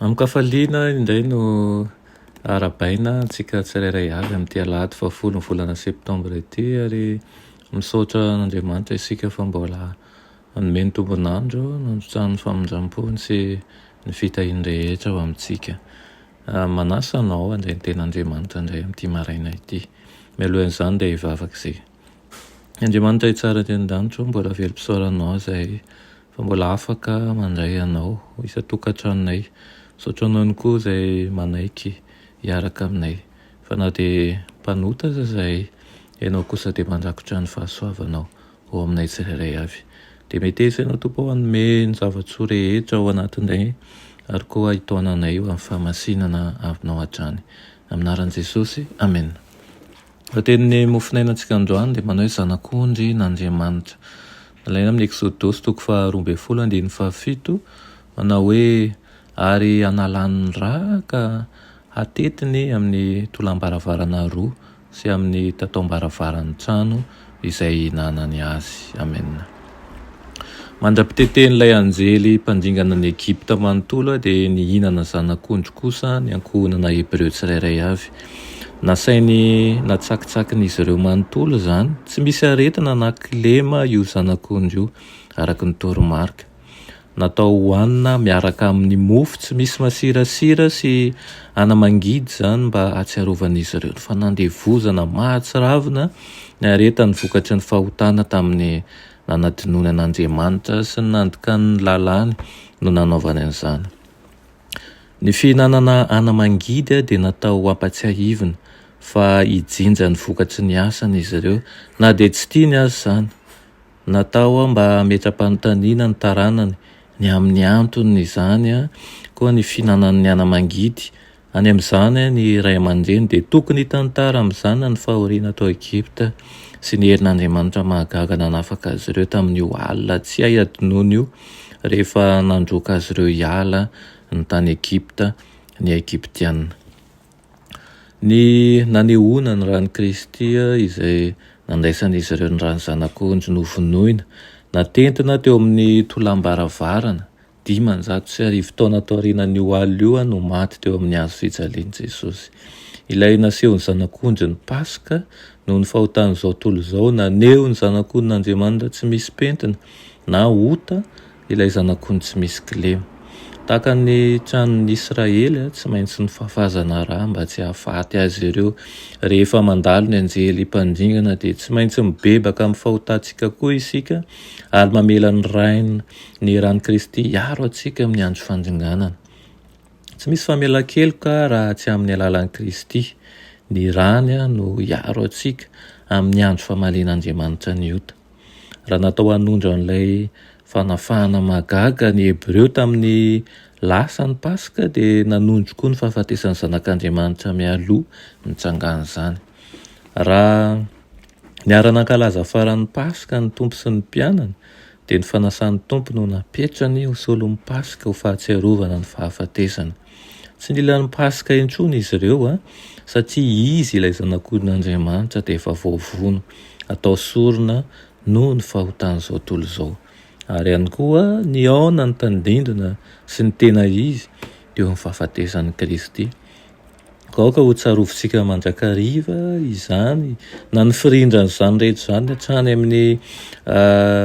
Amin-kafaliana indray no arahabaina antsika tsirairay avy amin'ity alahady fahafolo ny volana septambra ity ary misaotra an'Andriamanitra isika fa mbola hanome ny tombon'andro nandrotsahany ny famindram-pony sy ny fitahiany rehetra ho amintsika. Manasa anao handray ny tenan'Andriamanitra indray amin'ity maraina ity. Mialoha an'izany dia hivavaka isika. Andriamanitra Ray Tsara aty an-danitra ô, mbola velom-pisaoranao izahay fa mbola afaka mandray Anao ho isan-tokantranonay. Misaotra Anao ihany koa izay manaiky hiaraka aminay, fa na dia mpanota aza izahay, Ianao kosa dia mandrakotra ny fahasoavanao ho aminay tsirairay avy. Dia meteza Ianao Tompo ô, hanome ny zava-tsoa rehetra ao anatinay ary koa hitaona anay ho amin'ny fahamasinana Aminao hatrany. Amin'ny anaran'i Jesosy, Amena. Ny tenin'ny mofon'ainantsika androany dia manao hoe Zanak'ondry n'Andriamanitra. Alaina amin'ny Eksodosy toko faha roa ambin'ny folo andininy faha fito, manao hoe, Ary hanalany ny ra ka hatetiny amin'ny tolam-baravarana roa sy amin'ny tataom-baravaran'ny trano izay nanany azy. Amen. Mandra-pitetehin'ilay anjely mpandringana an'i Egypta manontolo dia nihinana zanak'ondry kosa ny ankohonana Hebreo tsirairay avy. Nasainy natsakitsakin'izy ireo manontolo izany. Tsy misy aretina na kilema io zanak'ondry io, araka ny toromarika. Natao hohanina miaraka amin'ny mofo tsy misy masirasira sy anamangidy izany mba hahatsiarovan'izy ireo ny fanandevozana mahatsiravina niaretan'ny vokatry ny fahotana tamin'ny nanadinoany an'Andriamanitra sy ny nandikany ny lalàny no nanaovany an'izany. Ny fihinanana anamangidy dia natao hampatsiahivina fa hijinja ny vokatry ny asany izy ireo na dia tsy tiany aza izany. Natao mba hametra-panontaniana ny taranany ny amin'ny anton'izany koa ny fihinanan'ny ana-mangidy. Any amin'izany ny ray aman-dreny dia tokony hitantara amin'ny zanany fahoriana tao Egypta sy ny herin'Andriamanitra mahagaga nanafaka azy ireo tamin'io alina tsy hay hadinoina io rehefa nandroaka azy ireo hiala ny tany Egypta ny Egyptiana. Ny nanehoana ny ran'i Kristy izay nandraisan'izy ireo ny ran'ny Zanak'ondry novonoina, natentina teo amin'ny tolàm-baravarana, dimanjato sy arivo taona taorianan'io alina io no maty teo amin'ny hazo fijalian'i Jesosy. Ilay nasehon'ny Zanak'ondry ny Paska noho ny fahotan'izao tontolo izao, naneho ny Zanak'ondrin'Andriamanitra tsy misy pentina na ota, ilay zanak'ondry tsy misy kilema. Tahaka ny tranon'ny Israely, tsy maintsy nifafazana ra mba tsy hahafaty azy ireo. Rehefa mandalo ny anjely mpandringana, dia tsy maintsy mibebaka amin'ny fahotantsika koa isika, ary mamela ny Rain'ny ny ran'i Kristy hiaro antsika amin'ny andro fandringanana. Tsy misy famelan-keloka raha tsy amin'ny alalan'i Kristy. Ny rany no hiaro antsika amin'ny andro famalian'Andriamanitra ny ota. Raha natao hanondro an'ilay fanafahana mahagaga ny Hebreo tamin'ny lasa ny Paska, dia nanondro koa ny fahafatesan'ny Zanak'Andriamanitra mialoha nitsangan'izany. Raha niara-nankalaza faran'ny Paska ny Tompo sy ny mpianany, dia ny fanasan'ny Tompo no napetrany ho solon'ny Paska ho fahatsiarovana ny fahafatesany. Tsy nila ny Paska intsony izy ireo, satria izy, ilay Zanak'ondrin'Andriamanitra, dia efa voavono, atao sorona noho ny fahotan'izao tontolo izao. Ary ihany koa, nihaona ny tandindona sy ny tena izy teo amin'ny fahafatesan'i Kristy. Koa aoka hotsarovintsika mandrakariva izany, na ny firindran'izany rehetra izany hatrany amin'ny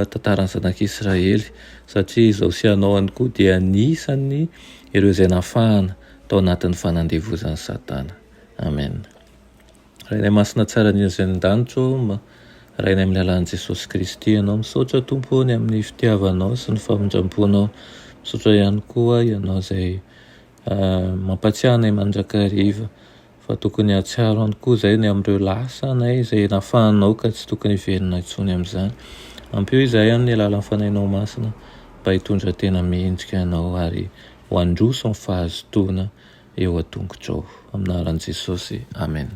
tantaran'ny Zanak'Israely, satria izaho sy ianao ihany koa dia anisan'ny Ireo izay nafahana tao anatin'ny fanandevozan'i Satana. Amen. Rainay Masina Tsara indrindra izay any an-danitra ô, Rainay amin'ny alalan'i Jesosy Kristy Ianao, misaotra Tompo ô ny amin'ny fitiavanao sy ny famindram-ponao. Misaotra ihany koa Ianao izay mampatsiahy anay mandrakariva. fa tokony hahatsiaro ihany koa izay ny amin'ireo lasa na izay nafanao ka tsy tokony hiverina intsony amin'izany. Ampio izahay amin'ny alalan'ny Fanahinao Masina mba hitondra tena mendrika Anao ary ho handroso ny fahazotoana eo an-tongotrao. Amin'ny anaran'i Jesosy, amena.